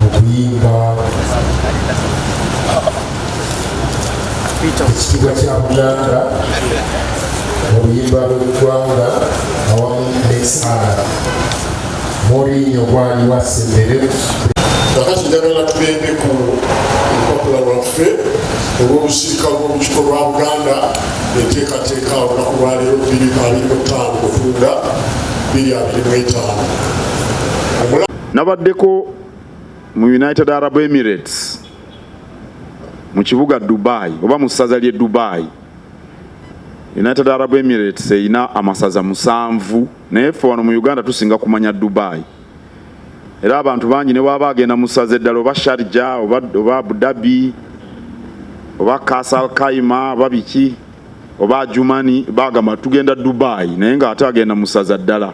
okuyimba ekitiibwa kya buganda mu luyimba lw'eggwanga awamu n'esaala moriinyo gwali wasembere kakati njagala tugende ku lupapula lwaffe olw'olusirika lw'olukiko lwa buganda enteekateeka olunaku lwaleero 25 otunda 25 nabaddeko mu United Arab Emirates mu kibuga Dubai oba mu ssaza ly'e Dubai. United Arab Emirates erina amasaza musanvu naye ffe wano mu Uganda tusinga kumanya Dubai era abantu bangi ne bwaba agenda mu ssaza eddala oba Sharjah oba, oba Abu Dhabi oba Kasal Kaima oba biki oba Ajumani bagamba tugenda Dubai naye nga ate agenda mu ssaza ddala.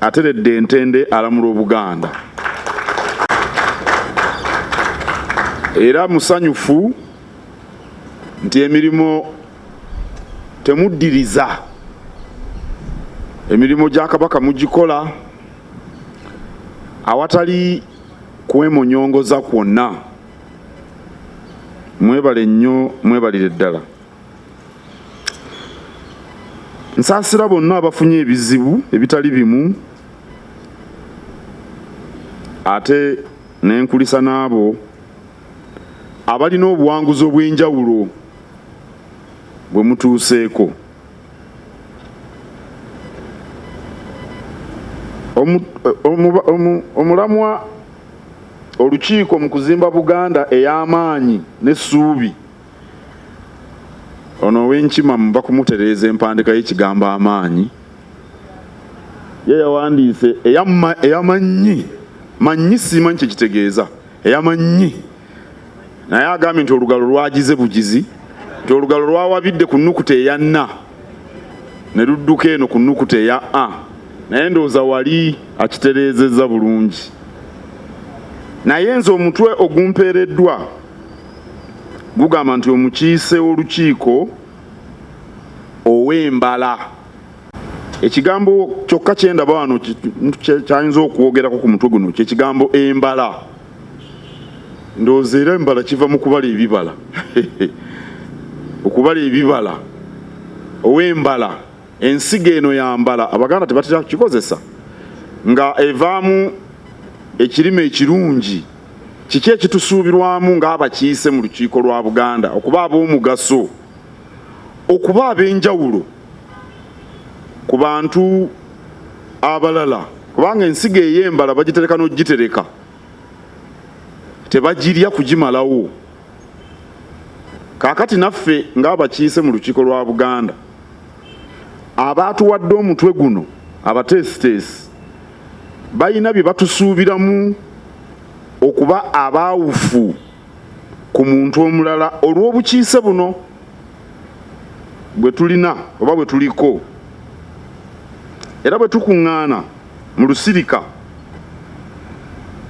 ateredde entende alamula obuganda era musanyufu nti emirimu temuddiriza emirimu gya kabaka mugikola awatali kwemunyongoza kwonna mwebale nnyo mwebalire ddala Nsaasira bonna abafunye ebizibu ebitali bimu ate nenkulisa n'abo abalina obuwanguzi obw'enjawulo bwe mutuuseeko. Omulamwa olukiiko mu kuzimba Buganda ey'amaanyi n'essuubi ono owenkima muba kumutereeza empandika y'ekigambo amaanyi ye yawandiise eyamannyi mannyi siimanyi kyekitegeeza eyamannyi naye agambye nti olugalo lwagize bugizi nti olugalo lwawabidde ku nnukuta eya na ne ludduka eno ku nnukuta eya a naye ndowooza wali akitereezezza bulungi naye nze omutwe ogumpeereddwa gugamba nti omukiise w'olukiiko ow'embala ekigambo kyokka kyendaba wano kyayinza okwogerako ku mutwe guno kyekigambo embala ndowooza era embala kiva mu kubala ebibala okubala ebibala ow'embala ensigo eno yambala abaganda tebatera kukikozesa nga evaamu ekirime ekirungi Kiki ekitusuubirwamu ng'abakiise mu lukiiko lwa Buganda okuba ab'omugaso, okuba ab'enjawulo ku bantu abalala kubanga ensigo ey'embala bagitereka n'ogitereka tebagirya kugimalawo. Kaakati naffe ng'abakiise mu lukiiko lwa Buganda abaatuwadde omutwe guno abateesiteesi balina bye batusuubiramu okuba abaawufu ku muntu omulala olw'obukiise buno bwe tulina oba bwe tuliko era bwe tukuŋŋaana mu lusirika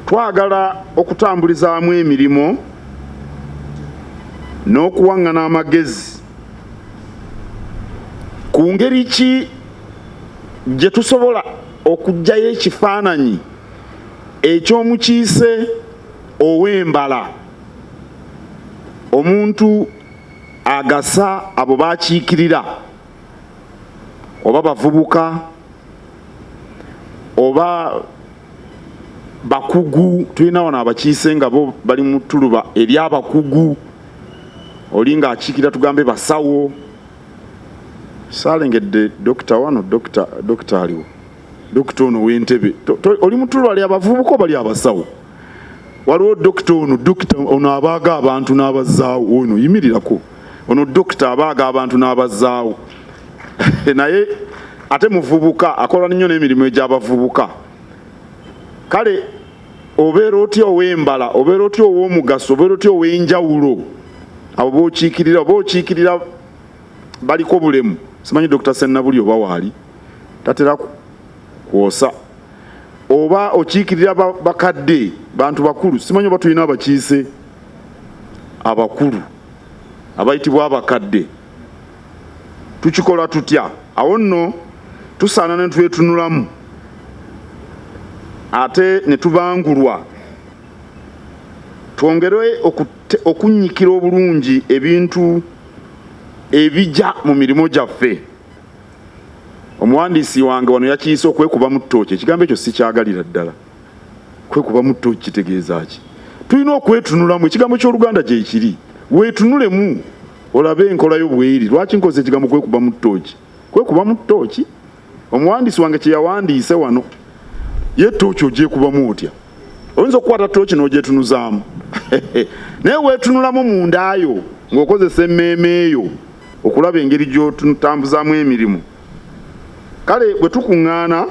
twagala okutambulizaamu emirimu n'okuwaŋŋana amagezi ku ngeri ki gye tusobola okuggyayo ekifaananyi eky'omukiise ow'embala omuntu agasa abo bakiikirira oba bavubuka oba bakugu tulina wano abakiise nga bo bali mu tuluba ery'abakugu oli ng'akiikirira tugambe basawo saalengedde dokita wano dokita dokita aliwo dokita ono w'entebe oli mutulu ali abavubuka obali abasawo waliwo dokita ono dokita ono abaaga abantu n'abazaawo ono yimirirako ono dokita abaaga abantu n'abazaawo naye ate muvubuka akola nnyo n'emirimu egy'abavubuka kale obeera otya ow'embala obeera otya ow'omugaso obeera otya ow'enjawulo abo bokiikirira oba okiikirira baliko bulemu simanyi dr sennabuli oba waali tatera kwosa oba okiikirira bakadde bantu bakulu simanyi oba tulina abakiise abakulu abayitibwa abakadde tukikola tutya awo nno tusaana ne twetunulamu ate ne tubangulwa twongere okunnyikira obulungi ebintu ebija mu mirimu gyaffe omuwandiisi wange wano yakiyise okwekuba mu ttooki ekigambo ekyo sikyagalira ddala kwekubamu tto kitegeeza ki tulina okwetunulamu ekigambo ky'oluganda gyekiri wetunulemu olabe enkola yo bweri lwaki nkoze ekigambo kwekubamu ttooki kwekubamu ttooki omuwandiisi wange kyeyawandiise wano ye ttooki ogyekubamu otya oyinza okukwata ttooki n'ogyetunuzaamu naye wetunulamu mu ndaayo ng'okozesa emmeeme eyo okulaba engeri gy'otutambuzaamu emirimu kale bwe tukuŋŋaana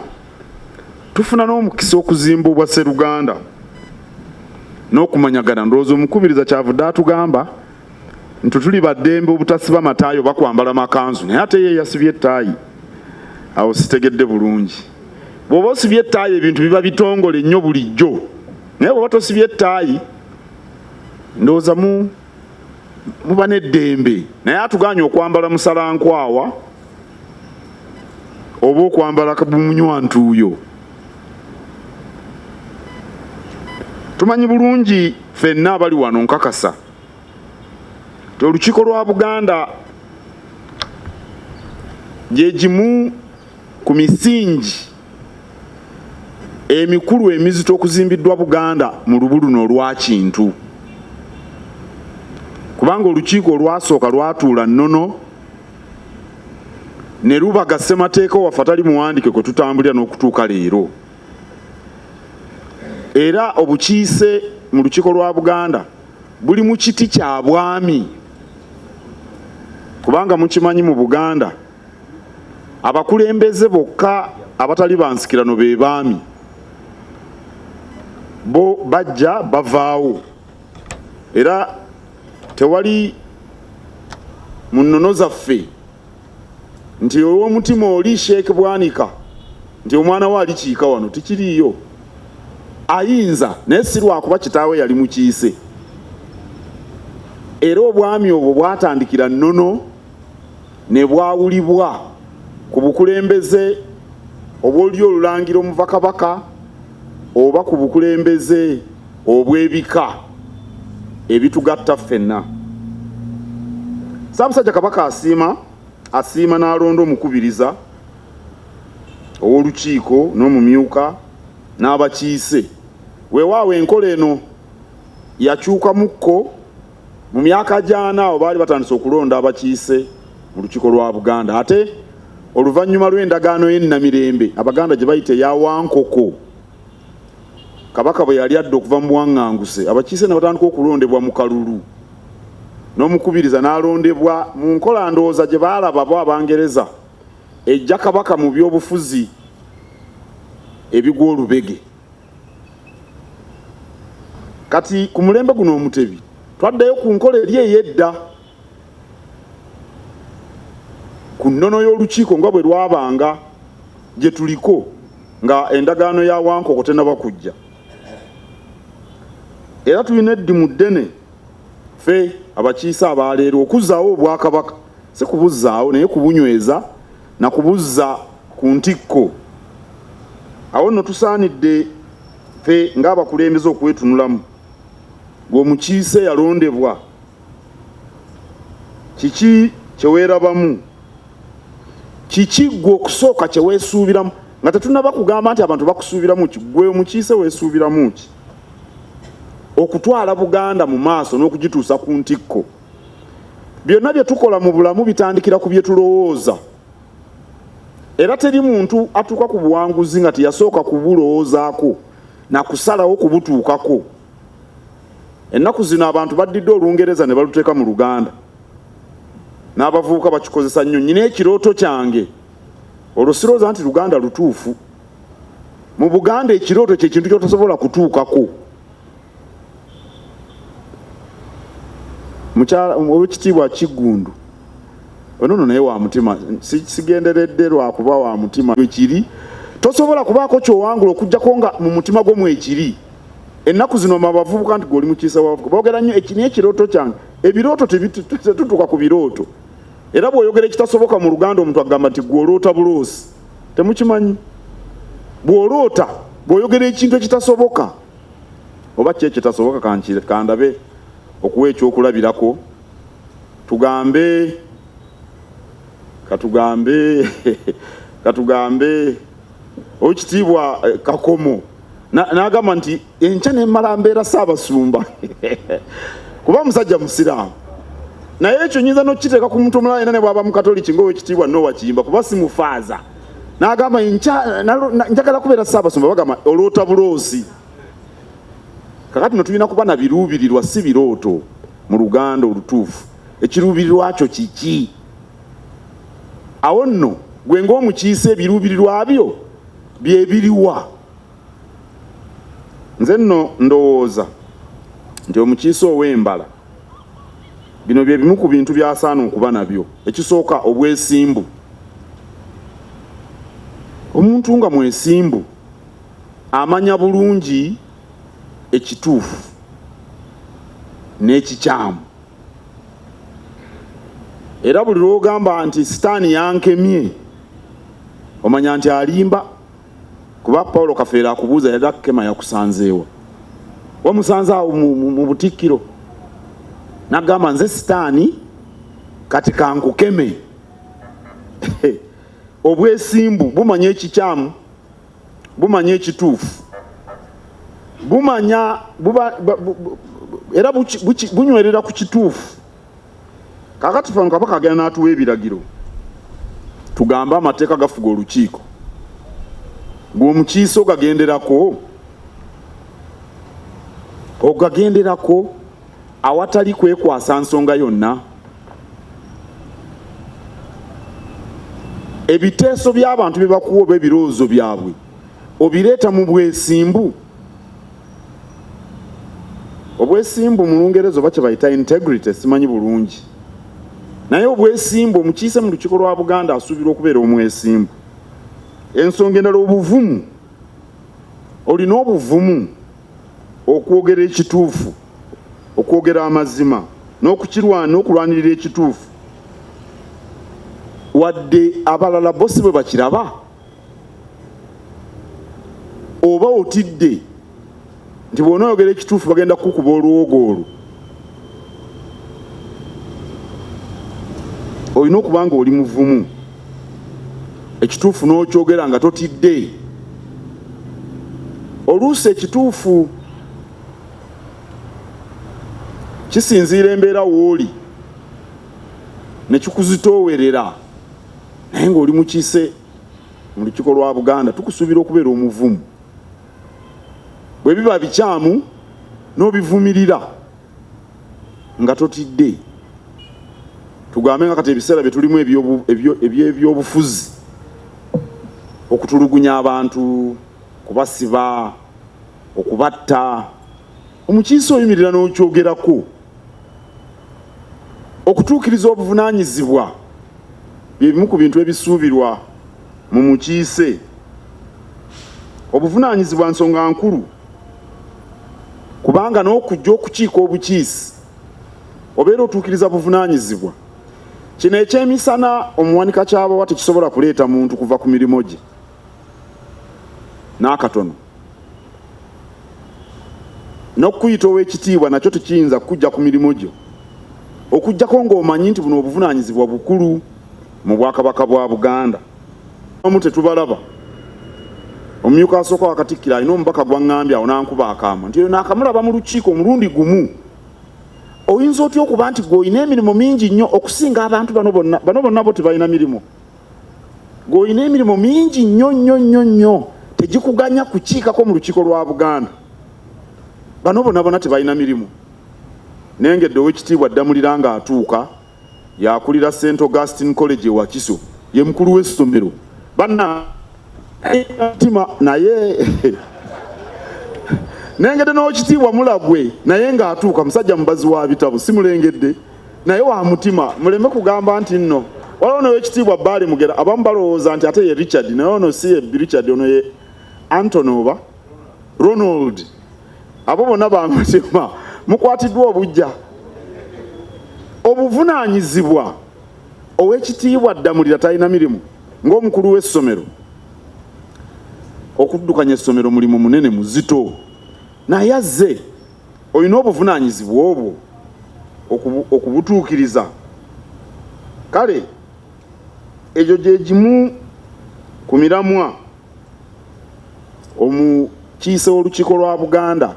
tufuna n'omukisa okuzimba obwa seruganda n'okumanyagana ndowooza omukubiriza kyavudde atugamba nti tuli baddembe obutasiba mataayi oba kwambala makanzu naye ate ye yasibye ettaayi awo sitegedde bulungi bw'oba osibye ettaayi ebintu biba bitongole nnyo bulijjo naye bw'oba tosibye ettaayi ndowooza mu muba n'eddembe naye atuganye okwambala musalankwawa oba okwambala bumunywantuuyo tumanyi bulungi fenna abali wano nkakasa ti olukiiko lwa buganda gyegimu ku misingi emikulu emizito okuzimbiddwa buganda mu lubu luno olwakintu kubanga olukiiko olwasooka lwatuula nnono ne lubaga ssemateeka waffe atali muwandike kwe tutambulira n'okutuuka leero era obukiise mu lukiiko lwa Buganda buli mu kiti kya bwami kubanga mukimanyi mu Buganda abakulembeze bokka abatali bansikirano be baami bo bajja bavaawo era tewali mu nnono zaffe nti ow'omutima oli sheeke bwanika nti omwana we alikiika wano tikiriiyo ayinza naye si lwakuba kitaawe yali mukiise era obwami obwo bwatandikira nnono ne bwawulibwa ku bukulembeze obwoluli olulangira omuva kabaka oba ku bukulembeze obw'ebika ebitugatta ffenna. Ssaabasajja Kabaka asiima asiima n'alonda omukubiriza ow'olukiiko n'omumyuka n'abakiise. Weewaawo enkola eno yakyukamukko mu myaka gy'ana awo baali batandise okulonda abakiise mu lukiiko lwa Buganda ate oluvannyuma lw'endagaano y'e Namirembe Abaganda gye bayita eya Wankoko. Kabaka bwe yali adda okuva mu buwaŋŋanguse, abakiise ne batandika okulondebwa mu kalulu n'omukubiriza n'alondebwa mu nkola ndowooza gye baalaba bo Abangereza eggya Kabaka mu byobufuzi ebigwa olubege. Kati ku mulembe guno Omutebi twaddayo ku nkola eri ey'edda. ku nnono y'olukiiko nga bwe lwabanga gye tuliko nga endagaano ya wankoko tenaba kujja era tulina eddimu ddene fe abakiise abaaleero okuzzaawo obwakabaka si kubuzzaawo naye kubunyweza na kubuzza ku ntikko awo nno tusaanidde fe ng'abakulembeze okwetunulamu ng'omukiise yalondebwa kiki kye weerabamu? Kiki ggwe okusooka kye weesuubiramu nga tetunnaba kugamba nti abantu bakusuubiramu ki? Ggwe omukiise weesuubiramu ki okutwala Buganda mu maaso n'okugituusa ku ntikko? Byonna bye tukola mu bulamu bitandikira ku bye tulowooza. Era teri muntu atuuka ku buwanguzi nga teyasooka kubulowoozaako na kusalawo kubutuukako. Ennaku zino abantu baddidde Olungereza ne baluteeka mu Luganda n'abavubuka bakikozesa nnyo. Nyina ekirooto kyange olwo sirooza nti Luganda lutuufu. Mu Buganda ekirooto kye kintu ky'otasobola kutuukako. Mukyala ow'ekitiibwa Kiggundu ono no naye wa mutima sigenderedde lwakuba wa mutima ekiri tosobola kubaako kyowangula okujjako nga mu mutima gwo mwekiri ennaku zino mabavubuka nti gweoli mukiisa wabavubuka boogera nnyo ekini ekirooto kyange ebirooto tetutuka ku birooto era bw'oyogera ekitasoboka mu luganda omuntu agamba nti gw'oloota buloosi temukimanyi bw'oloota bw'oyogera ekintu ekitasoboka oba ki ekitasoboka kandabe okuwa ekyokulabirako tugambe katugambe katugambe owekitiibwa eh, kakomo n'agamba nti enkya nemmala mbeera saabasumba kuba musajja musiraamu naye ekyo nyinza nokukiteeka ku muntu omulala yena ne bwaba mukatoliki ngaowekitiibwa nowa kiyimba kuba simufaaza n'agamba njagala kubeera saabasumba bagamba oloota buloozi kakati no tulina kuba na biruubirirwa si birooto mu luganda olutuufu ekiruubirirwa kyo kiki awo nno gwe ngaomukiise ebiruubirirwa byo byebiriwa nze nno ndowooza nti omukiise ow'embala bino bye bimu ku bintu byasaana okuba nabyo ekisooka obwesimbu omuntu nga mwesimbu amanya bulungi ekituufu n'ekikyamu era buli lwogamba nti sitaani yankemye omanya nti alimba kuba paulo kafeera akubuuza yali akukema yakusanzeewa wamusanze awo mu butikkiro nagamba nze sitaani kati kankukeme obwesimbu bumanya ekikyamu bumanya ekituufu bumanya buba era bunywerera ku kituufu kakati fano kabaka agenda n'atuwa ebiragiro tugambe amateeka gafuga olukiiko gweomukiise ogagenderako ogagenderako awatali kwekwasa nsonga yonna ebiteeso by'abantu bye bakuwa oba ebirowoozo byabwe obireeta mu bwesimbu obwesimbu mu lungereza oba kye bayita integrity simanyi bulungi naye obwesimbu omukiise mu lukiiko lwa buganda asuubirwa okubeera omwesimbu ensonga endala obuvumu olina obuvumu okwogera ekituufu okwogera amazima n'okukirwana okulwanirira ekituufu wadde abalala bo si bwe bakiraba oba otidde nti bw'onoyogera ekituufu bagenda kukukuba olwogo olwo olina okuba nga oli muvumu ekituufu n'okyogera nga totidde oluusi ekituufu kisinziira embeera wooli nekikuzitoowerera naye ng'oli mukiise mu lukiiko lwa buganda tukusuubira okubeera omuvumu bwe biba bikyamu n'obivumirira nga totidde tugambe nga kati ebiseera bye tulimu eby'ebyobufuzi okutulugunya abantu kubasiba okubatta omukiise oyimirira n'okyogerako okutuukiriza obuvunaanyizibwa bye bimu ku bintu ebisuubirwa mu mukiise obuvunaanyizibwa nsonga nkulu kubanga n'okujja okukiika obukiisi obeera otuukiriza buvunaanyizibwa kino ekyemisana omuwanika kyabawa tekisobola kuleeta muntu kuva ku mirimu gye n'akatono n'okukuyita ow'ekitiibwa nakyo tekiyinza kukujja ku mirimu gyo okugyako ng'omanyi nti buno obuvunaanyizibwa bukulu mu bwakabaka bwa Buganda amu tetubalaba omumyuka asooka wakatikkiro alina omubaka gwangambye awo nankuba akaama nti eyo nakamulaba mu lukiiko omulundi gumu oyinza otya okuba nti gweolina emirimu mingi nnyo okusinga abantu bano bonna bano bonna bo tebalina mirimu gweolina emirimu mingi nnyo nnyo nnyo nnyo tegikuganya kukiikako mu lukiiko lwa buganda bano bona bona tebalina mirimu naye nga edde owekitiibwa ddamulira nga atuuka yakulira St Augustine College e Wakiso ye mukulu w'essomero banna mutima naye nengedde n'okitiibwa mulagwe naye ng'atuuka musajja mubazi wa bitabo simulengedde naye wa mutima muleme kugamba nti nno waliwo nowekitiibwa baali mugera abamu balowooza nti ate ye richard naye ono si ye richard ono ye antony oba Ronald abo bonna bangazima mukwatiddwa obujja obuvunaanyizibwa ow'ekitiibwa Ddamulira talina mirimu ng'omukulu w'essomero okuddukanya essomero mulimu munene muzito naye azze olina obuvunaanyizibwa obwo okubutuukiriza kale egyo gye gimu ku miramwa omukiise w'olukiiko lwa Buganda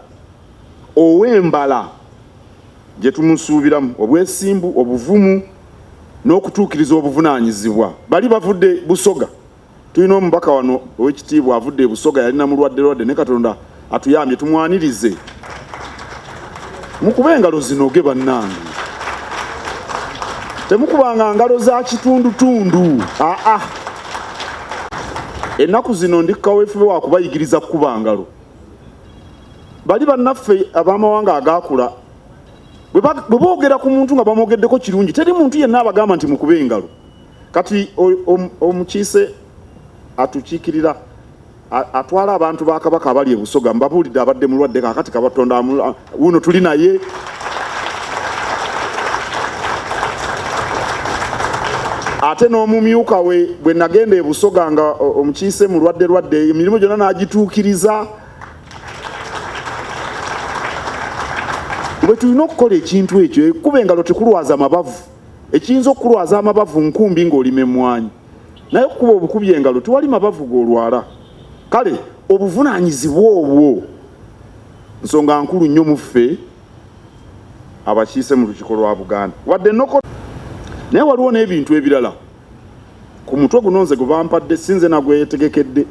ow'embala gye tumusuubiramu obwesimbu, obuvumu n'okutuukiriza obuvunaanyizibwa. Bali bavudde Busoga. Tulina omubaka wano ow'ekitiibwa avudde e Busoga yali na mulwadde lwadde ne Katonda atuyambye tumwanirize mukuba engalo zinoge bannange temukubanga ngalo za kitundutundu aa ennaku zino ndi kawefube wakubayigiriza kukuba ngalo bali bannaffe ab'amawanga agaakula bwe boogera ku muntu nga bamwogeddeko kirungi teri muntu yenna abagamba nti mukuba engalo kati omukiise atukiikirira atwala abantu ba kabaka abali ebusoga mbabuulidde abadde mulwadde kakati kabatonda wuno tuli naye ate n'omumyuka we bwe nagenda ebusoga nga omukiise mulwadde lwadde emirimu gyonna n'agituukiriza bwe tulina okukola ekintu ekyo ekuba engalo tekulwaza mabavu ekiyinza okukulwaza amabavu nkumbi ng'olima emmwanyi naye okukuba obukubi engalo tewali mabavu golwala kale obuvunanyizibwa obwo nsonga nkulu nnyo muffe abakiise mu lukiko lwa buganda wadde noko naye waliwo n'ebintu ebirala ku mutwe guno nze gwe bampadde sinze nagwetegekedde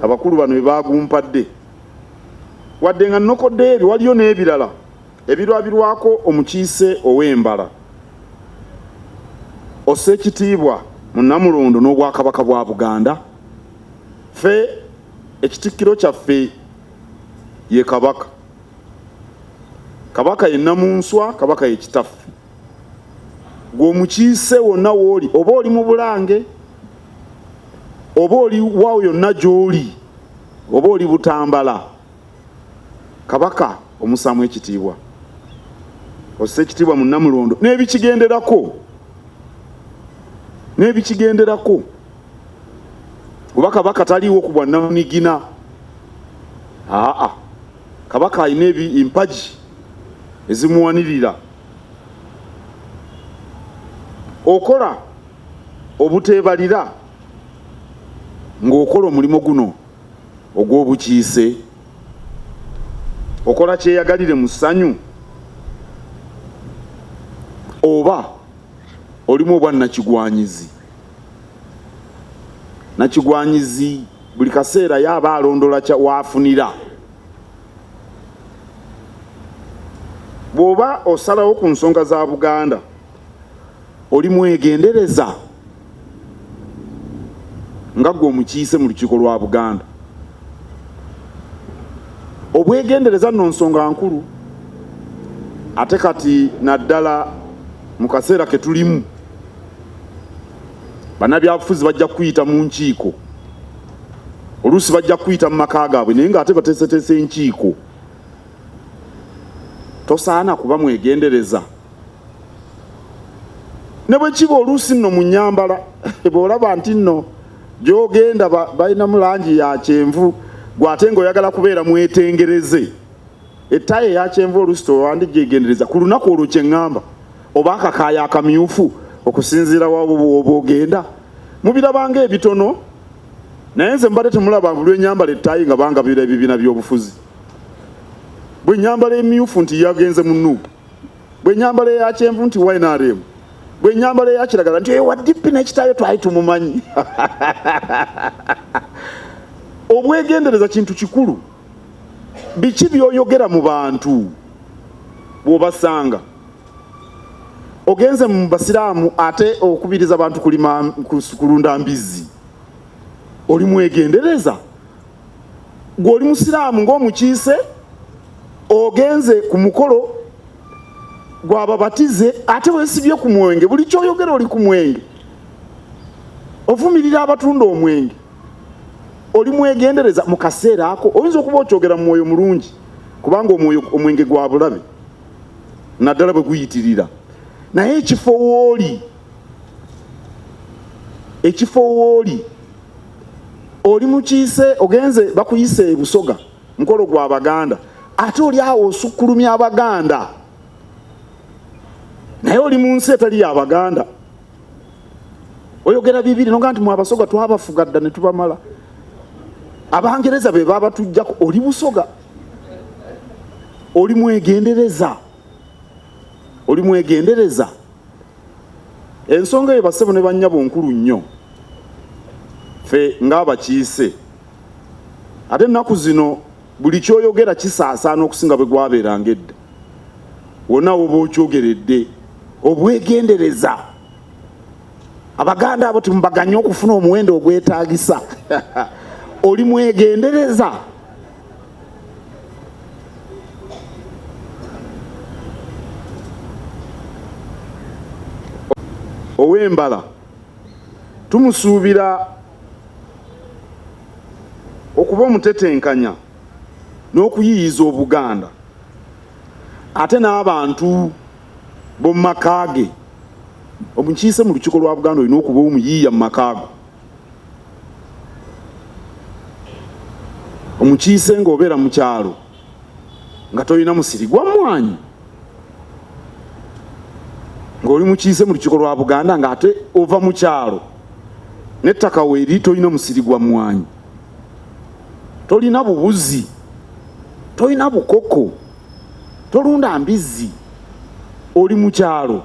abakulu bano bebagumpadde wadde nga nokoddeyo ebyo waliyo n'ebirala Ebirwabirwako omukiise ow'embala ossa ekitiibwa mu Nnamulondo n'Obwakabaka bwa Buganda. Ffe ekitikkiro kyaffe ye Kabaka. Kabaka ye Nnamunswa, Kabaka ye Kitaffe. Gwe omukiise wonna w'oli, oba oli mu Bulange, oba oli waawo yonna gy'oli, oba oli Butambala, kabaka omusaamu ekitiibwa ossa ekitiibwa mu namulondo n'ebikigenderako n'ebikigenderako oba kabaka taliiwo ku bwannamunigina aa kabaka alina empagi ezimuwanirira okola obuteebalira ng'okola omulimu guno ogw'obukiise okola kyeyagalire mu ssanyu oba olimu obwa nakigwanyizi nakigwanyizi buli kaseera yaaba alondola waafunira bw'oba osalawo ku nsonga za buganda oli mwegendereza nga gwe omukiise mu lukiiko lwa Buganda. Obwegendereza nno nsonga nkulu ate kati naddala mu kaseera ke tulimu bannabyabufuzi bajja kuyita mu nkiiko oluusi bajja kuyita mu maka gaabwe naye ng'ate bateeseteese enkiiko tosaana kuba mwegendereza ne bwe kiba oluusi nno mu nnyambala bw'olaba nti nno gy'ogenda balinamu langi ya kyenvu gwe ate ng'oyagala kubeera mwetengereze ettayi eya kyenvu oluusi tewandi gyegendereza ku lunaku olwo kye ŋŋamba oba akakaaya akamyufu okusinziira wabo bwoba ogenda mubirabanga ebitono naye nze mbadde temulaba bulwenyambala ettayi nga bangabira ebibiina by'obufuzi bwe nyambala emyufu nti yagenze mu nuupu bwe nyambala eya kyenvu nti ynrm bwe nyambala eya kiragala nti ewa dipi nekitayo twali tumumanyi obwegendereza kintu kikulu biki byoyogera mu bantu bwobasanga ogenze mu basiraamu ate okubiriza abantu kulima kulunda mbizzi oli mwegendereza gwe oli musiraamu ng'omukiise ogenze ku mukolo gwababatize ate wesibye ku mwenge buli kyoyogera oli ku mwenge ovumirira abatunda omwenge oli mwegendereza mu kaseera ako oyinza okuba okyogera mu mwoyo mulungi kubanga omwoyo omwenge gwa bulabe naddala bwe guyitirira naye ekifo wooli ekifo wooli oli mukiise ogenze bakuyise ebusoga mukolo gwa baganda ate oli awo osukkulumya abaganda naye oli mu nsi etali ya baganda oyogera bibiri noga nti mwabasoga twabafuga dda netubamala abangereza be babatujjako oli busoga oli mwegendereza oli mwegendereza ensonga eyo basebo ne banyabo nkulu nnyo fe ng'abakiise ate ennaku zino buli kyoyogera kisaasaana okusinga bwe gwabeeranga edda wonna woba okyogeredde obwegendereza abaganda abo timubaganye okufuna omuwendo ogwetaagisa oli mwegendereza ow'embala tumusuubira okuba omutetenkanya n'okuyiyiza obuganda ate n'abantu b'omu maka ge omukiise mu lukiiko lwa buganda olina okuba omuyiiya mu makaago omukiise nga obeera mu kyalo nga tolina musiri gwa mmwanyi ng'oli mukiise mu lukiiko lwa buganda ng'ate ova mu kyalo n'ettaka weeri tolina musiri gwa mmwanyi tolina bubuzi tolina bukoko tolunda mbizzi oli mu kyalo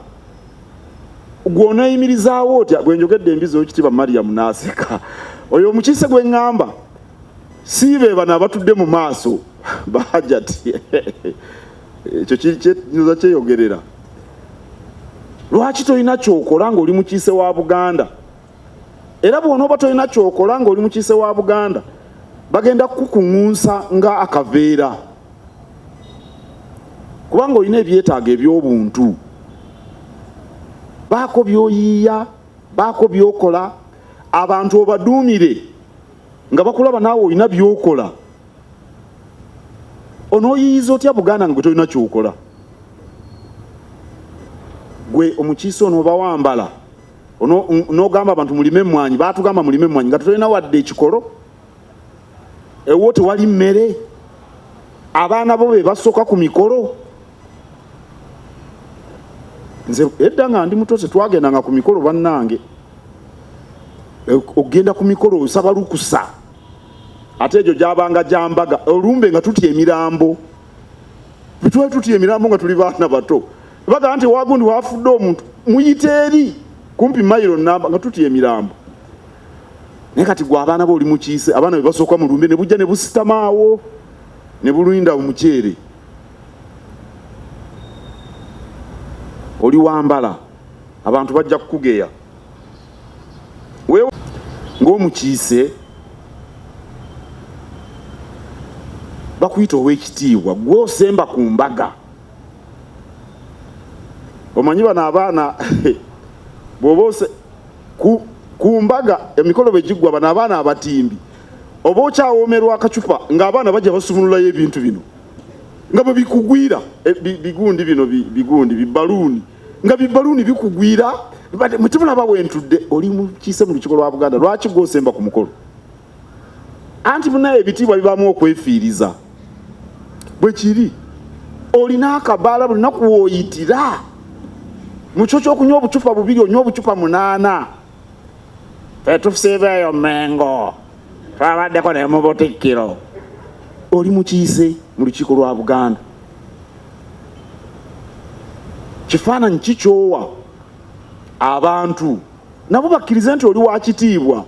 gw'oneeyimirizaawo otya gwe njogedde embizi owekitiibwa mariyamu n'aseka oyo omukiise gwe ŋŋamba si be bano abatudde mu maaso bahajati ekyo kinyuza kyeyogerera lwaki tolina kyokola ng'oli mukiise wa buganda era bw'onooba tolina kyokola ng'oli mukiise wa buganda bagenda kukukuŋunsa nga akaveera kubanga olina ebyetaago eby'obuntu baako by'oyiiya baako by'okola abantu obaduumire nga bakulaba naawe olina by'okola onooyiyiza otya buganda nga gwe tolina kyokola gwe omukiise onoobawambala nogamba abantu mulime emwanyi batugamba mulime emwanyi nga tulina wadde ekikolo ewo tewali mmere abaana bo bebasooka ku mikolo nze edda nga ndi muto tetwagendanga ku mikolo bannange e, okugenda ku mikolo osaba lukusa ate egyo gyabanga gyambaga olumbe nga tutya emirambo twali tutya emirambo nga tuli baana bato bagamba nti wagundi wafudde omuntu muyite eri kumpi mayiro namba nga tutya emirambo naye kati gwe abaana be oli mukiise abaana be basooka mu lumbe ne bujja ne busitamaawo ne buluinda omuceere oli wambala abantu bajja kukugeya ng'omukiise bakuyita ow'ekitiibwa gwe osemba ku mbaga omanyi bano abaana bwoba ose ku, ku mbaga emikolo bwe giggwa bano abaana abatimbi oba okyawoomerwa akacupa ng'abaana bajja basumululayo ebintu bino nga bwe bikugwira eh, bigundi bino bigundi bibaluuni nga bibaluuni bikugwira mutemulaba wentudde oli mukiise mu lukiko lwa buganda lwaki gwosemba ku mukolo anti munaye ebitiibwa bibaamu okwefiiriza bwe kiri olina akabaala buli naku wooyitira mu kyo kyokunywa obucupa bubiri onywa obucupa munaana fetusiibeeyo mengo twabaddeko ne mu butikkiro oli mukiise mu lukiiko lwa buganda kifaananyi kikyowa abantu nabo bakkirize nti oli wa kitiibwa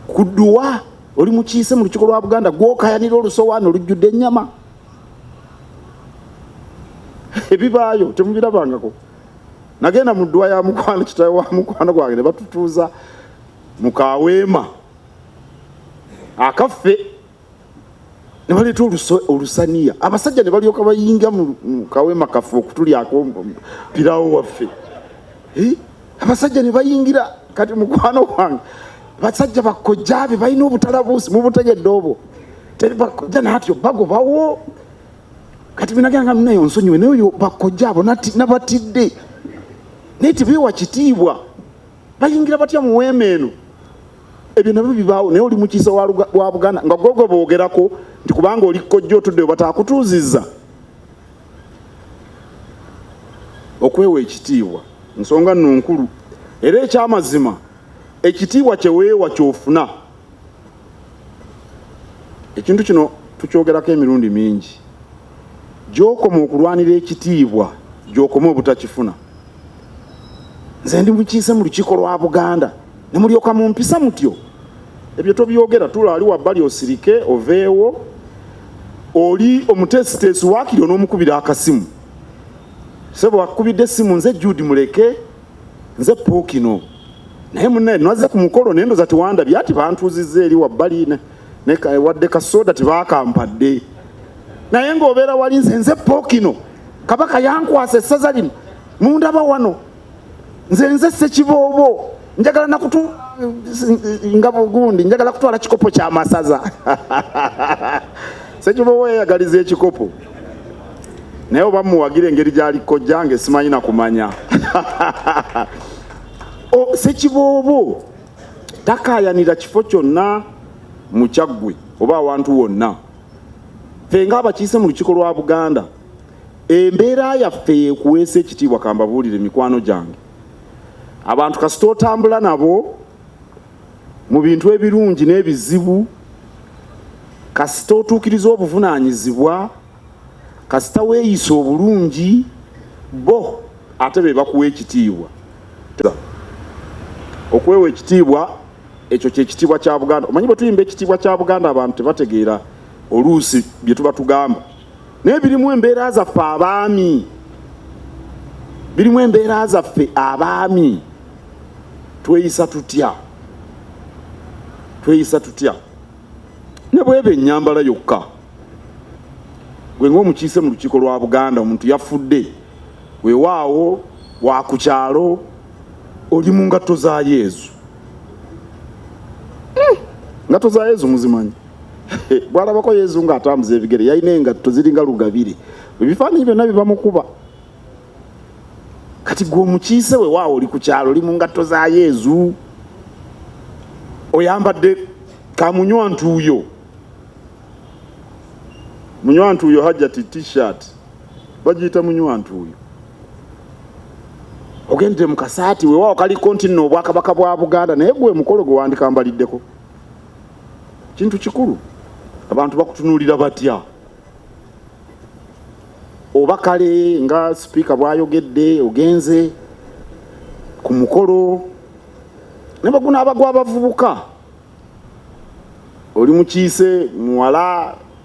ku dduwa oli mukiise mu lukiiko lwa buganda gwokayanira olusowaana olujjudde ennyama ebibaayo temubirabangako nagenda mu dduwa ya mukwano kitawe wa mukwano gwange ne batutuuza mu kaweema akaffe ne baleeta olusaniya abasajja ne balyoka bayinga mu kawema kaffe okutulyako pirawo waffe abasajja ne bayingira kati mukwano gwange basajja bakojja be balina obutalabuusi mubutegedde obwo teri bakojja natyo bagobawo kati binaganga munayo nsonyiwe naye oyo bakojja abo nabatidde naye tebewa kitiibwa bayingira batya mu weema eno ebyo nabyo bibaawo naye oli mukiisa wa buganda nga gwe gwe boogerako nti kubanga oli kojja otudde webataakutuuzizza okwewa ekitiibwa nsonga nno nkulu era ekyamazima ekitiibwa kyeweewa kyofuna ekintu kino tukyogerako emirundi mingi gy'okoma okulwanira ekitiibwa gy'okoma obutakifuna nze ndi mukiise mu lukiiko lwa buganda ne mulyoka mu mpisa mutyo ebyo tobyogera tula ali wabbali osirike oveewo oli omuteesiteesi waakiri onoomukubira akasimu sebo wakukubidde essimu nze jude muleke nze pookino naye munaye nwaze ku mukolo naye ndoza tiwandabye ati bantuuzizza eri wabbali wadde kasooda tibaakampadde naye ng'obeera wali nze nze pookino kabaka yankwasa essaza lino mundaba wano nze nze sekiboobo njagala nakutu nga bugundi njagala kutwala kikopo kya masaza sekiboobo yeyagaliza ekikopo naye oba muwagire engeri gyali kojja nge simanyi nakumanya sekiboobo takayanira kifo kyonna mukyaggwe oba awantu wonna ffe ng'abakiise mu lukiiko lwa buganda embeera yaffe yekuweesa ekitiibwa kambabuulire mikwano gyange abantu kasita otambula nabo mu bintu ebirungi n'ebizibu kasita otuukiriza obuvunaanyizibwa kasita weeyisa obulungi bo ate be bakuwa ekitiibwa okwewa ekitiibwa ekyo kyekitiibwa kya buganda omanyi bwetuyimba ekitiibwa kya buganda abantu tebategeera oluusi byetuba tugamba naye birimu embeera zaffe abaami birimu embeera zaffe abaami tweyisa tutya tweyisa tutya ne bweba enyambala yokka gwe ngaomukiise mu lukiiko lwa buganda omuntu yafudde wewaawo wakukyalo oli mu ngatto za yezu hmm. ngatto za yezu muzimanyi bwalabako yezu nga atambuza ebigere yalina engatto ziringa lugabire ebifaananyi byonna bibamukuba kati gwe omukiise we waawo oli ku kyalo oli mu ngatto za yezu oyambadde kamunywa ntuuyo munywa ntuuyo hajjati t-shirt bagiyita munywa ntuuyo ogendere mu kasaati wewawo kaliko nti nno obwakabaka bwa buganda naye gwe mukolo gwe wandikambaliddeko kintu kikulu abantu bakutunuulira batya oba kale nga sipiika bwayogedde ogenze ku mukolo nebaguna abagwa abavubuka oli mukiise muwala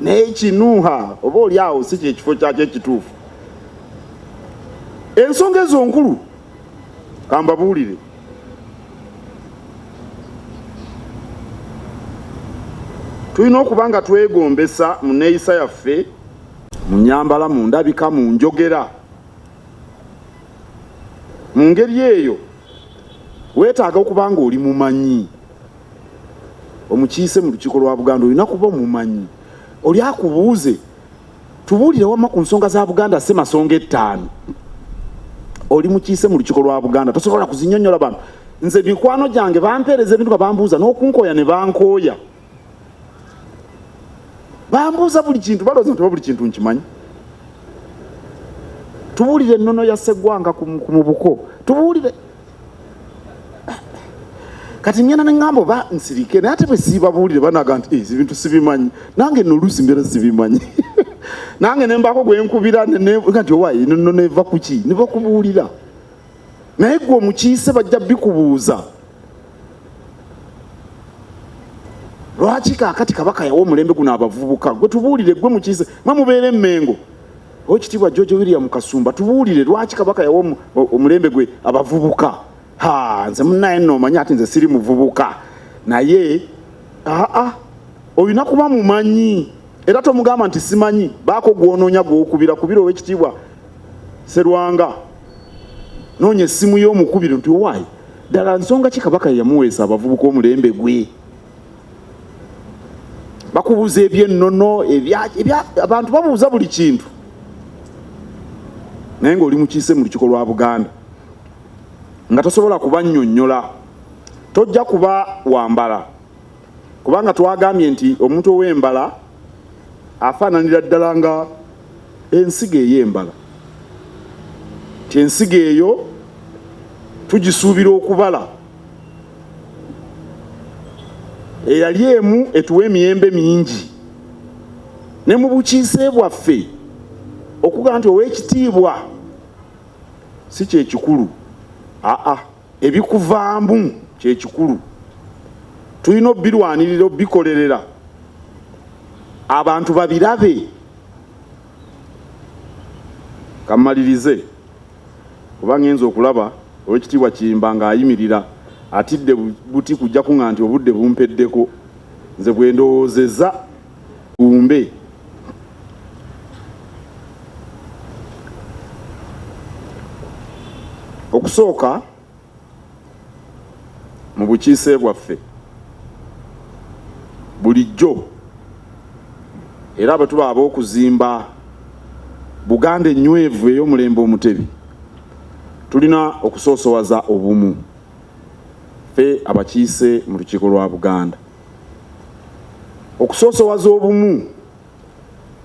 naye kinuuha oba oli awo si kyekifo kyakyo ekituufu ensonga ezo nkulu kambabuulire tulina okuba nga twegombesa mu neeyisa yaffe mu nyambala mu ndabika mu njogera mu ngeri eyo weetaaga okuba nga oli mumanyi omukiise mu lukiiko lwa buganda olina kuba omumanyi oli akubuuze tubuulire wama ku nsonga za buganda si masonga ettaano oli mukiise mu lukiiko lwa buganda tosobola kuzinyonyola bantu nze mikwano gyange bampeereza ebintu nga bambuuza n'okunkooya ne bankooya bambuuza buli kintu balooza nti oba buli kintu nkimanyi tubuulire ennono ya seggwanga ku mubuko tubuulire kati ngenda neŋamba oba nsirike naye ate bwesiibabuulire banaga nti eh, ebintu sibimanyi nange no oluusi mbeera sibimanyi nange nembaako gwenkubira nti owaye no neva kuki nebakubuulira naye gwe omukiise bajja bikubuuza lwaki kakati kabaka yawa omulembe guno abavubuka gwe tubuulire gwe mukiise mwe mubeera emmengo Owekitiibwa George William Kasumba, tubuulire lwaki Kabaka yawa omulembe gwe abavubuka? Ha, nze munaye nno omanyi ati nze siri muvubuka naye aa olina kuba mumanyi era tomugamba nti simanyi baako gwonoonya gwokubira kubira owekitiibwa Serwanga noonya essimu y'omukubiro nti owaayi ddala nsonga ki Kabaka yamuweesa abavubuka omulembe gwe? bakubuuza ebyennono abantu babuuza buli kintu naye ngaoli mukiise mu lukiko lwa buganda nga tosobola kubanyonyola tojja kuba wambala kubanga twagambye nti omuntu ow'embala afaananira ddala nga ensigo ey'embala nti ensigo eyo tugisuubira okubala eyali emu etuwa emiyembe mingi ne mu bukiise bwaffe okuga nti ow'ekitiibwa si kyekikulu aa ebikuvaamu kyekikulu tulina obirwanirira obikolerera abantu babirabe kamalirize kuba ngenze okulaba Owekitiibwa Kiyimba nga ayimirira atidde buti kujja kunga nti obudde bumpeddeko nze bwendowoozeza umbe okusooka mu bukiise bwaffe bulijjo era bwe tuba ab'okuzimba Buganda ennywevu ey'omulembe Omutebi tulina okusoosowaza obumu ffe abakiise mu lukiiko lwa Buganda okusoosowaza obumu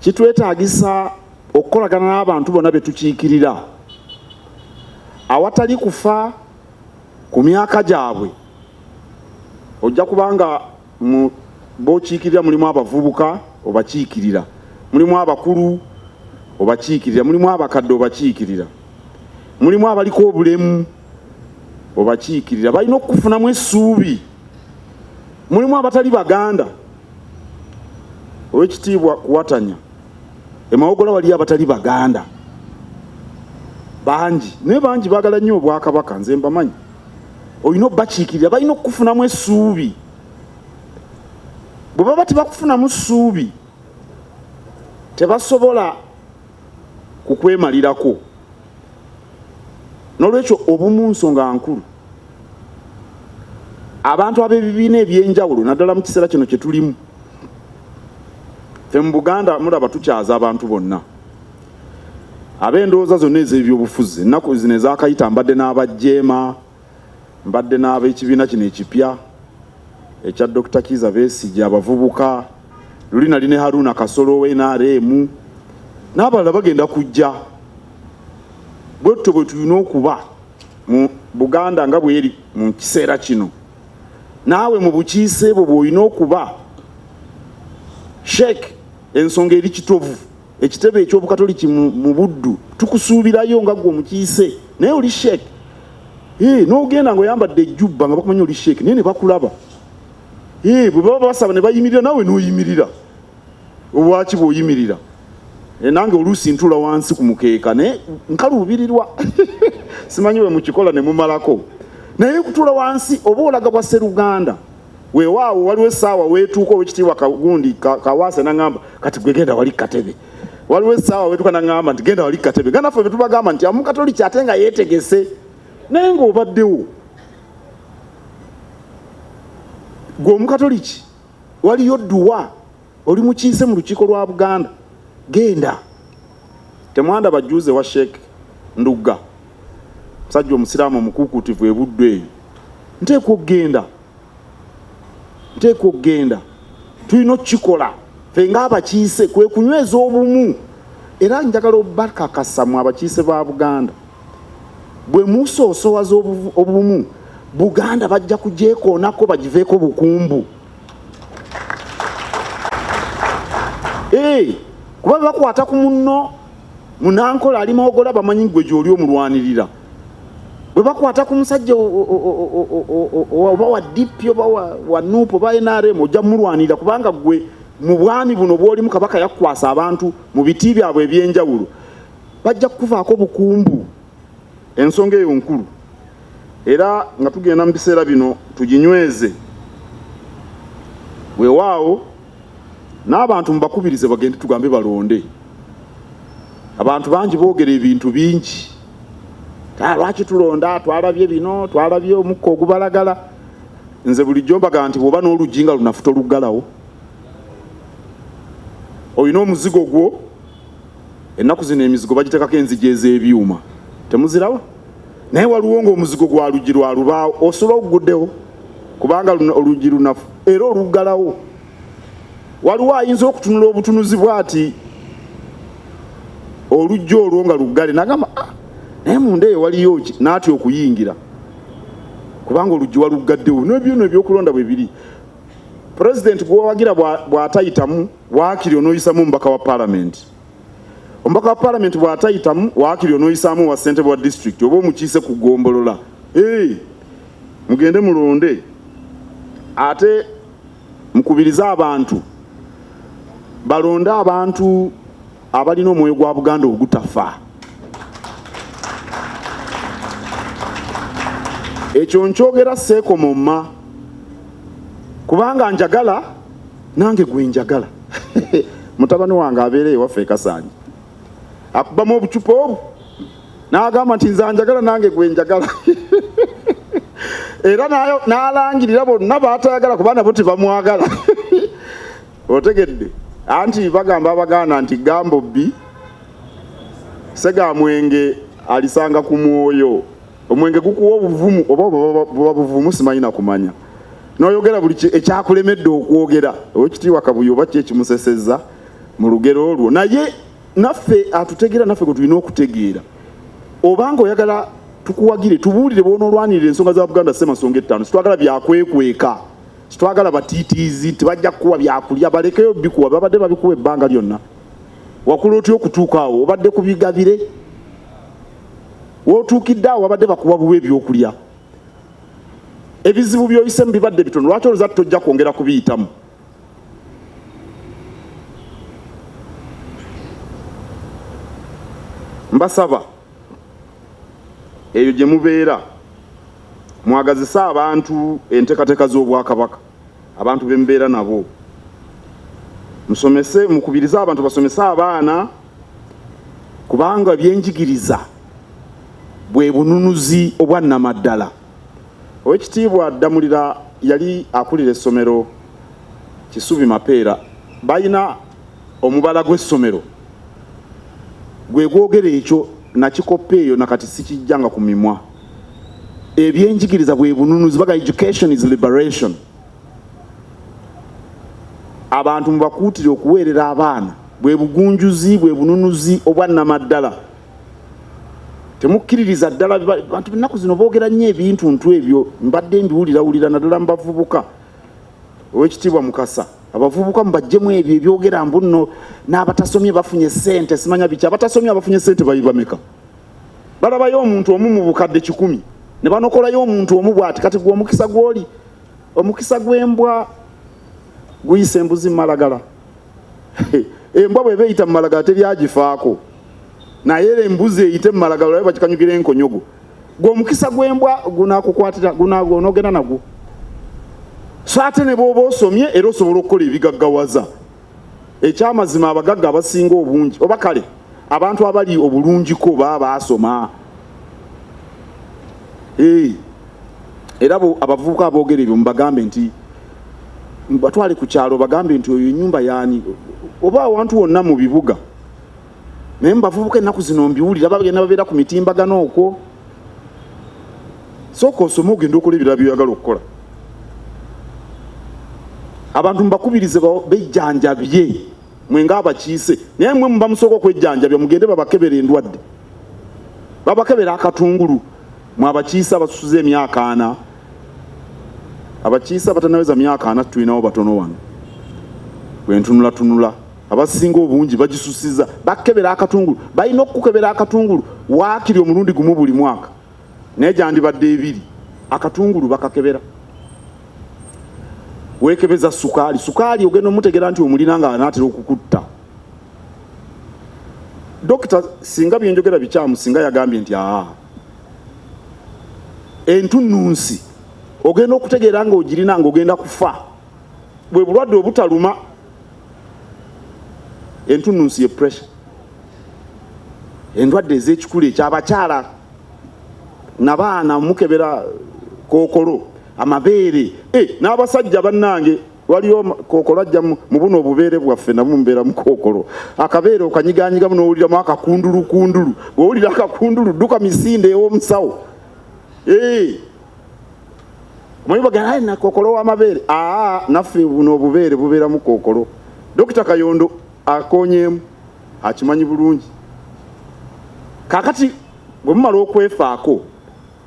kitwetaagisa okukolagana n'abantu bonna be tukiikirira awatali kufa ku myaka gyabwe ojja kubanga mu bokiikirira mulimu abavubuka obakiikirira mulimu abakulu obakiikirira mulimu abakadde obakiikirira mulimu abaliko obulemu obakiikirira balina okukufunamu essuubi mulimu abatali baganda owekitiibwa kuwatanya emawogola waliyo abatali baganda bangi naye bangi bagala nnyo obwakabaka nze mbamanyi olina okubakiikirira balina okukufunamu essuubi bwe baba tebakufunamu ssuubi tebasobola ku kwemalirako n'olwekyo obumu nsonga nkulu abantu ab'ebibiina eby'enjawulo naddala mu kiseera kino kye tulimu fe mu buganda mulaba tukyaza abantu bonna ab'endowooza zonna ez'ebyobufuzi ennaku zino ezakayita mbadde n'abajeema Mbadde n'ab'ekibiina kino ekipya ekya Dokita Kiiza Besigye, abavubuka luli nali ne Haruna Kasolo owa NRM n'abalala bagenda kujja bwe tutyo bwe tulina okuba mu Buganda nga bweri mu kiseera kino naawe mu bukiise bwo bw'olina okuba sheik ensonga eri kitovu ekitebe eky'obukatoliki mu buddu tukusuubirayo nga gwe omukiise naye oli sheek n'ogenda nga oyambadde ejjubba nga bakumanya oli sheek naye ne bakulaba bwe baba basaba ne bayimirira nawe n'oyimirira obwaki bw'oyimirira Eh, nange oluusi ntula wansi ku mukeeka naye nkaluubirirwa simanyi bwe mukikola ne mumalako naye kutula wansi oba olaga bwa seruganda Weewaawo waliwo essaawa weetuuka owekitiibwa kagundi kawaase nangamba kati gwe genda wali katebe waliwo essaawa wetuuka nangamba nti genda wali katebe nga naffe betubagamba nti amukatoliki ate nga yeetegese naye ngaobaddewo gwe omukatoliki waliyo duwa oli mukiise mu lukiiko lwa buganda genda temwanda bajuuze wa sheek ndugga musajja omusiraamu omukuukuutivu ebuddu eyo nteekwa okugenda nteekwa okugenda tulina okukikola fe nga abakiise kwe kunyweza obumu era njagala obakakasamu abakiise ba buganda bwe musoosowaza obumu buganda bajja kugyekoonako bagiveeko bukumbu Hey, kuba bakwata ku munno munankola ali mawogola bamanyi gwe gyoli omulwanirira bwe bakwata ku musajja oba wa dp oba wa nup oba nrm ojja mulwanirira kubanga gwe mu bwami buno bwolimu kabaka yakukwasa abantu mu biti byabwe ebyenjawulo bajja kukuvaako bukumbu Ensonga eyo nkulu era nga tugenda mu biseera bino tuginyweze. Weewaawo n'abantu mubakubirize bagende tugambe balonde. Abantu bangi boogera ebintu bingi. Ah, lwaki tulonda twalabye bino twalabye omukka ogubalagala nze bulijjo mbaga nti bwoba n'oluggi nga lunafuta oluggalawo olina omuzigo gwo ennaku zino emizigo bagitekako enzigi ez'ebyuma temuziraba naye waliwo ng'omuzigo gwa luggi lwa lubaawo osula oguguddewo kubanga oluggi lunafu era oluggalawo waliwo ayinza okutunula obutunuzi bwati oluggi olwo nga luggale nagamba ah, naye munda eyo waliyo ki naatya okuyingira kubanga oluggi waluggaddewo nebyona ebyokulonda bwe biri pulezidenti gwewawagira bw'atayitamu waakiri onooyisamu omubaka wa palamenti omubaka wa palamenti bw'atayitamu waakiri onooyisaamu owa ssentebe wa disitulikiti oba omukiise ku ggombolola ee mugende mulonde ate mukubirize abantu balonde abantu abalina omwoyo gwa Buganda ogutafa. Ekyo nkyogera seekomomma kubanga njagala nange gwe njagala mutabani wange abeera ewaffe ekasanyi akubamu obucupa obwo n'agamba nti nze njagala nange gwe njagala era n'alangirira bonna baatayagala kuba nabo tebamwagala otegedde anti bagamba abaganda nti gambo bbi segamwenge alisanga ku mwoyo omwenge gukuwa obuvumu oba buba buvumu simanyi nakumanya noyogera buli ekyakulemedde okwogera owekitiibwa kabuye oba ki ekimuseseza mu lugero olwo naye naffe atutegeera naffe gwe tulina okutegeera obanga oyagala tukuwagire tubuulire bwonoolwanirira ensonga za buganda semasonga ettaano sitwagala byakwekweka Twagala batiitiizi, tebajja kukuwa byakulya, balekeyo bikuwa, babadde babikuwa ebbanga lyonna. Wakula otya okutuuka awo? Obadde ku bigabire? W'otuukidde awo wabadde bakuwa buwa ebyokulya? Ebizibu by'oyisemu bibadde bitono, lwaki oloza tojja kwongera kubiyitamu? Mbasaba eyo gye mubeera mwagazise abantu entekateka z'obwakabaka abantu bembeera nabo musomese mukubirize abantu basomese abaana kubanga byenjigiriza bwe bununuzi obwannamaddala owekitiibwa ddamulira yali akulira essomero kisubi mapeera balina omubala gw'essomero gwe gwogera ekyo nakikoppa eyo nakati sikijjanga ku mimwa ebyenjigiriza bwe bununuzi baga education is liberation abantu mubakuutire okuweerera abaana bwe bugunjuzi bwe bununuzi obwannamaddala temukkiririza ddala bantu ennaku zino boogera nnyo ebintu ntu ebyo mbadde mbiwulirawulira naddala mubavubuka owekitiibwa mukasa abavubuka mubajjemu ebyo ebyogera mbu nno n'abatasomye bafunye sente simanya biki abatasomye abafunye sente babameka balabayo omuntu omu mu bukadde kikumi ne banokolayo omuntu omu bwati kati gwe omukisa gwoli omukisa gw'embwa guyisa embuzi mumalagala embwa bweba eyita mumalagala teryagifaako naye era embuzi eyite mu malagalo naye bakikanyukira enkonyogo gwe omukisa gw'embwa gunakukwatira gunogenda nagwo so ate ne bwoba osomye era osobola okukola ebigaggawaza ekyamazima abagagga abasinga obungi oba kale abantu abali obulungiko baba baasoma era abavubuka aboogera ebyo mubagambe nti batwale ku kyalo bagambe nti oyo enyumba yaani oba awantu wonna mu bibuga naye mubavubuka ennaku zino mbiwulira bagenda babeera ku mitimbagano okwo sooka osome ogenda okola ebirala byoyagala okukola abantu mubakubirize bejjanjabye mwe nga abakiise naye mwe muba musooka okwejjanjabya mugende babakebera endwadde babakebera akatungulu mwe abakiise abasusuza emyaka ana abakiise abatanaweza myaka ana tulinawo batono wano bwentunulatunula abasinga obungi bagisusiza bakebera akatungulu balina okukebera akatungulu waakiri omulundi gumu buli mwaka naye gyandibadde ebiri akatungulu bakakebera wekebeza sukaali sukaali ogenda omutegera nti omulina nga anaatera okukutta dokita singa byenjogera bikyamu singa yagambye nti aa entunnunsi ogenda okutegeera nga ogirina nga ogenda kufa bwe bulwadde obutaluma entunnunsi ye pressure endwadde ez'ekikulu ekyabakyala nabaana mukebera kookolo amabeere eh, n'abasajja bannange waliyo kookolo ajja mu buno obubeere bwaffe namu mubeera mu kookolo akabeere okanyiganyigamu n'owuliramu akakundulukundulu bw'owulira akakundulu dduka misinde ew'omusawo eh. Mwiboga naye na kokolo wa mabere. Ah, nafe buno obubere bubera mu kokolo. Dokita Kayondo akonyemu akimanyi bulungi. Kakati bwe mumala okwefaako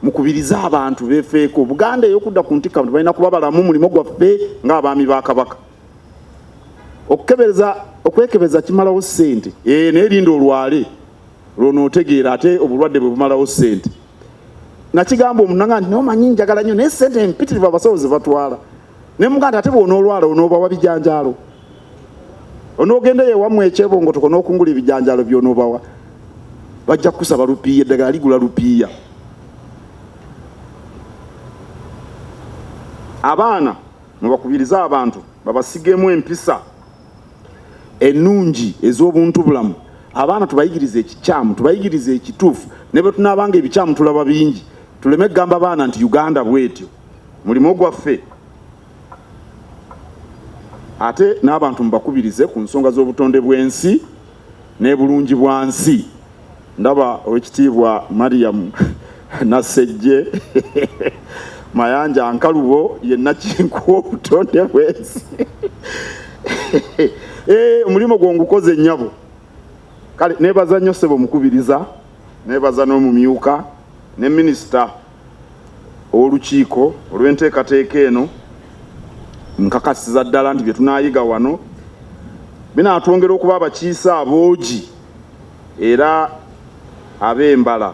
mukubirize abantu befeeko Buganda eyokudda ku ntikka nti balina kuba balamu mulimu gwaffe ng'abaami ba Kabaka. Okukebeza okwekebeza kimalawo ssente ee eh, naye linda olwale lwonootegeera ate obulwadde bwe bumalawo ssente nakigamba omunanga nti nomanyi njagala nnyo naye ssente empitirivu abasawo ze batwala ne muganda ate bwonoolwala onoobawa bijanjaalo onoogendayo ewamu ekyebongotoko n'okungula ebijanjaalo byonoobawa bajja kukusaba lupiiya eddagala ligula lupiiya abaana mwebakubiriza abantu babasigemu empisa ennungi ez'obuntubulamu abaana tubayigirize ekikyamu tubayigirize ekituufu ne bwe tunaabanga ebikyamu tulaba bingi tuleme kugamba baana nti uganda bwetyo mulimu gwaffe ate n'abantu mubakubirize ku nsonga z'obutonde bw'ensi n'ebulungi bwa nsi Ndaba owekitiibwa Mariam Nassejje Mayanja Nkalubo ye nakinkuwa obutonde bwensi eh, omulimu gwo ngukoze nnyabo kale nebaza nnyo ssebo omukubiriza nebaza n'omumyuka ne minisita ow'olukiiko olw'enteekateeka eno nkakasiza ddala nti bye tunaayiga wano binaatwongera okuba abakiise aboogi era ab'embala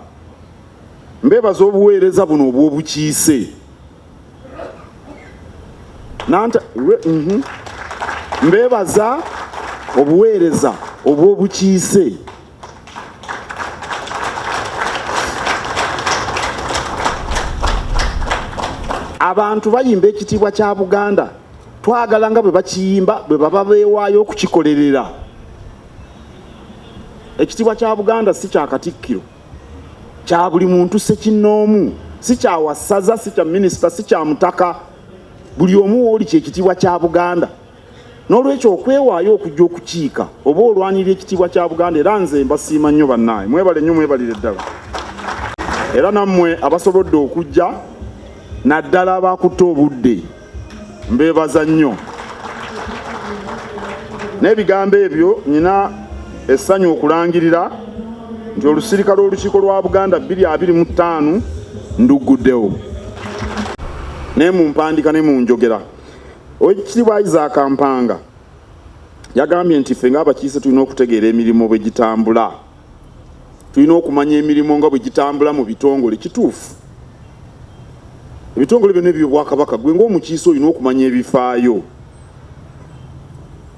mbeebaza obuweereza buno obw'obukiise nanta mhm. mbeebaza obuweereza obw'obukiise abantu bayimba ekitiibwa kya buganda twagala nga bwe bakiyimba bwe baba beewaayo okukikolerera ekitibwa kya buganda si kya katikkiro kya buli muntu sekinnoomu si kya wasaza si kya minisita si kya mutaka buli omu wooli kyekitibwa kya buganda n'olwekyo okwewaayo okujja okukiika oba olwanirira ekitiibwa kya buganda era nze mbasiima nnyo bannaaye mwebale nnyo mwebalire ddala era nammwe abasobodde okujja naddala abakutte obudde mbeebaza nnyo n'ebigambo ebyo nyina essanyu okulangirira nti olusirika lw'olukiiko lwa buganda 225 ndugguddewo ne mu mpandika ne mu njogera owekitiibwa isaaka mpanga yagambye nti ffe ng'abakiise tulina okutegeera emirimu bwe gitambula tulina okumanya emirimu nga bwe gitambula mu bitongole kituufu ebitongole byonna ebyobwakabaka gwe ngaomukiise olina okumanya ebifaayo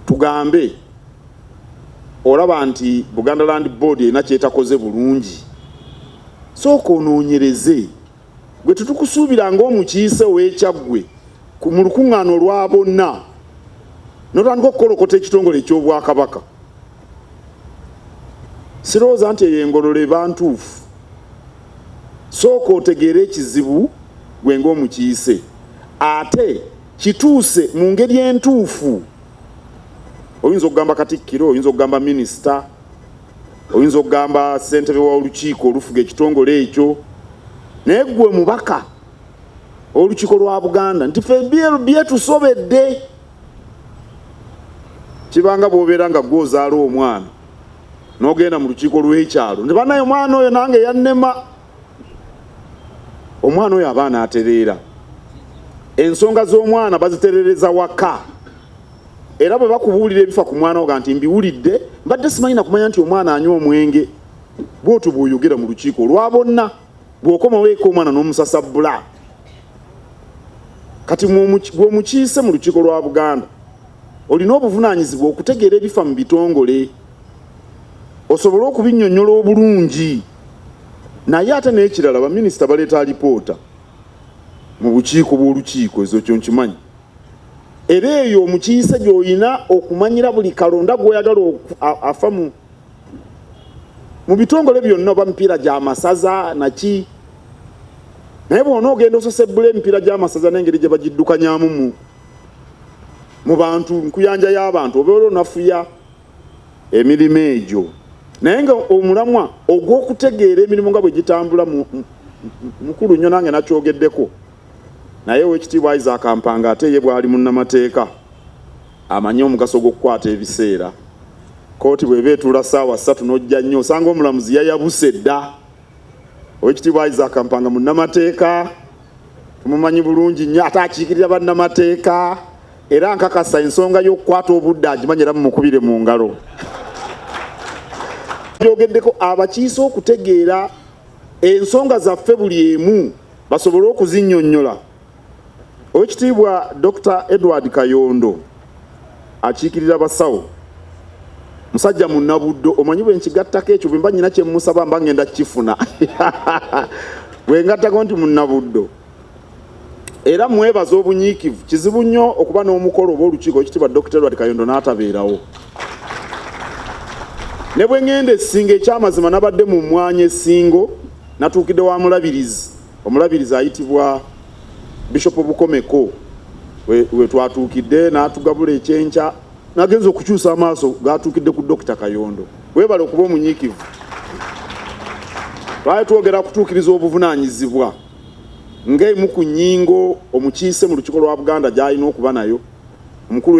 tugambe olaba nti buganda land board erina kyetakoze bulungi sooka onoonyereze gwe tetukusuubira ngaomukiise owekyaggwe mu lukuŋŋaana olwa bonna notandika okukolokota ekitongole ekyobwakabaka sirowooza nti eyo engololo eba ntuufu sooka otegeere ekizibu gwe ng'omukiise ate kituuse mu ngeri entuufu oyinza okugamba katikkiro oyinza okugamba minisita oyinza okugamba ssentebe wa olukiiko olufuga ekitongole ekyo naye ggwe mubaka olukiiko lwa buganda nti fe byetusobedde kibanga bwobeera nga gwe ozaala omwana nogenda mu lukiiko lw'ekyalo nti banaye omwana oyo nange yannema omwana oyo abaana atereera ensonga z'omwana baziterereza waka era bwe bakubuulira ebifa ku mwana oga nti mbiwulidde mbadde simanyi nakumanya nti omwana anywa omwenge bwotyo bwoyogera mu lukiiko olwa bonna gwokomawo eka omwana nomusasabbula kati gwomukiise mu lukiiko lwa buganda olina obuvunanyizibwa okutegeera ebifa mu bitongole osobole okubinyonyola obulungi naye ate nekirala baminisita baleeta alipoota mu bukiiko bw'olukiiko ezo kyo nkimanyi era eyo omukiise gy'olina okumanyira buli kalonda gw'oyagala afa mu mu bitongole byonna oba mipiira gya masaza naki naye bwona ogenda ososebbula emipiira gy'amasaza n'engeri gye bagiddukanyamu mu mu bantu nkuyanja y'abantu obeera onafuya emirimu egyo naye nga omulamwa ogw'okutegeera emirimu nga bwe gitambula mukulu nnyo nange nakyogeddeko Naye Oweekitiibwa Isaac Mpanga ate ye bw'ali munnamateeka amanyi omugaso gw'okukwata ebiseera. Kkooti bw'eba etuula ssaawa ssatu n'ojja nnyo osanga omulamuzi yayabuse dda. Oweekitiibwa Isaac Mpanga munnamateeka tumumanyi bulungi nnyo ate akiikirira bannamateeka era nkakasa ensonga y'okukwata obudde agimanyi era mumukubire mu ngalo. Byogeddeko abakiise okutegeera ensonga zaffe buli emu. basobole okuzinyonyola. Owekitiibwa Dr. Edward Kayondo akiikirira basawo musajja munabuddo omanyi bwe nkigattako ekyo bwemba nyina kyemusaba mba ngenda kukifuna bwengattako nti munabuddo era mwebaza obunyiikivu kizibu nnyo okuba n'omukolo oba olukiiko ekitibwa Dr. Edward Kayondo n'atabeerawo ne bwe ngenda esinga ekyamazima nabadde mu mwanya esingo Natuukidde wa mulabirizi omulabirizi ayitibwa Bishop Bukomeko we twatuukidde n'atugabula ekyenkya nagenza okukyusa amaaso gaatuukidde ku Dokita Kayondo weebale okuba omunyiikivu twali twogera kutuukiriza obuvunaanyizibwa ng'emu ku nnyingo omukiise mu lukiiko lwa Buganda gy'alina okuba nayo omukulu